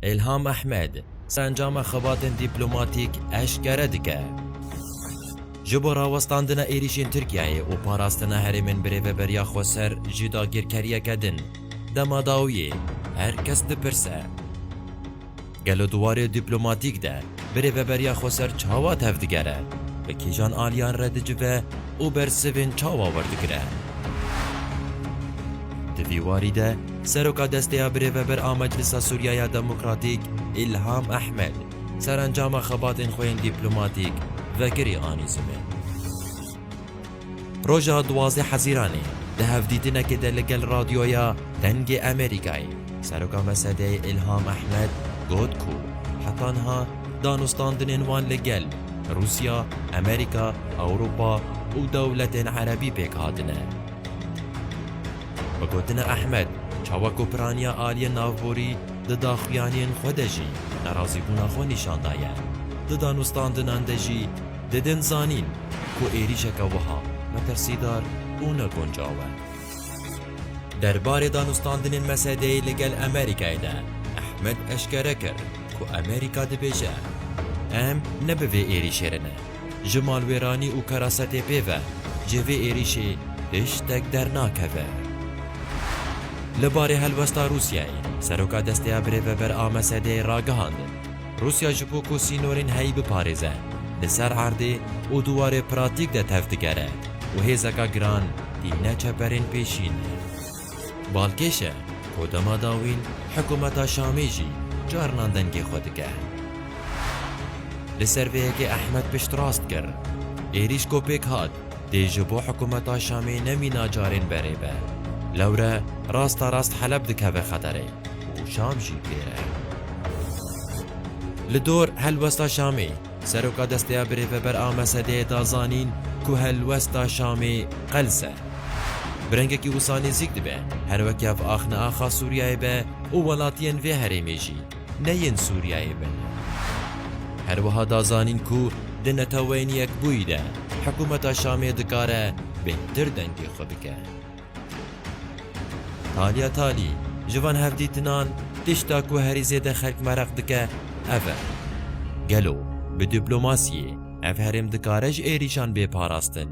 Îlham Ehmed sencama xebatên dîplomatîk eşkere dike. Ji bo rawestandina êrîşên Tirkiyeyê û parastina herêmên bi rêveberiya xwe ser jî dagirkeriyeke din dema dawiyê her kes dipirse, Gelo di warê dîplomatîk de bi rêveberiya xwe ser çawa tevdigere, bi kîjan aliyan re dicive û bersivên çawa werdigire? Di vî warî de Seroka destê ya Birêveber a Meclisa Sûriya ya Demokratîk Îlham Ehmed serencama xebatên xwe yên dîplomatîk vekirî anî ziman. Roja duwazdeh Hezîranê di hevdîtinekê de li gel Radyoya Dengê Amerîkayê Seroka MSD'ê Îlham Ehmed got ku heta niha danûstandinên wan li gel Rûsya, Amerîka, Ewropa û dewletên Erebî pêk hatine. Bi gotina Ehmed, çawa ku piraniya aliyên navborî di daxuyaniyên xwe de jî nerazîbûna xwe nîşan daye, di danûstandinan de jî didin zanîn ku êrîşeke wiha metirsîdar û ne guncaw e. Der barê danûstandinên Mesedeyê li gel Amerîkayê de Ehmed eşkere kir ku Amerîka dibêje, Em ne bi vê êrîşê re ne. Ji malwêranî û kerasetê pê ve ji vê êrîşê tiştek dernakeve. Li barê helwesta Rûsyayê, Seroka Desteya Birêveber a Mesedeyê ragihand, Rûsya ji bo ku sînorên heyî biparêze, li ser erdê û di warê pratîk de tev digere û hêzeka giran tîne çeperên pêşîn. Balkêş e ku dema dawîn hikûmeta Şamê jî carinan dengê xwe dike. Li ser vê yekê Ehmed piştrast kir, Êrîş ku pêk hat dê ji bo hikûmeta Şamê nemîna carên berê be. Lewre rasta rast Heleb dikeve xeterê û Şam jî pê re. Li dor helwesta Şamê, Seroka Desteya Birêveber a Mesedê da zanîn ku helwesta Şamê qe li ser bi rengekî wisa nêzîk dibe, her weke bi axne axa Sûriyeyê be û welatiyên vê herêmê jî ne yên Sûriyeyê bin. Her wiha da zanîn ku di Neteweyên Yekbûyî de hikûmeta Şamê dikare bêhtir dengê xwe bike. Talîya talî ji van hevdîtinan tişta ku herî zêde xelk meraq dike ev e. Gelo bi dîplomasiyê ev herêm dikare ji êrîşan bê parastin?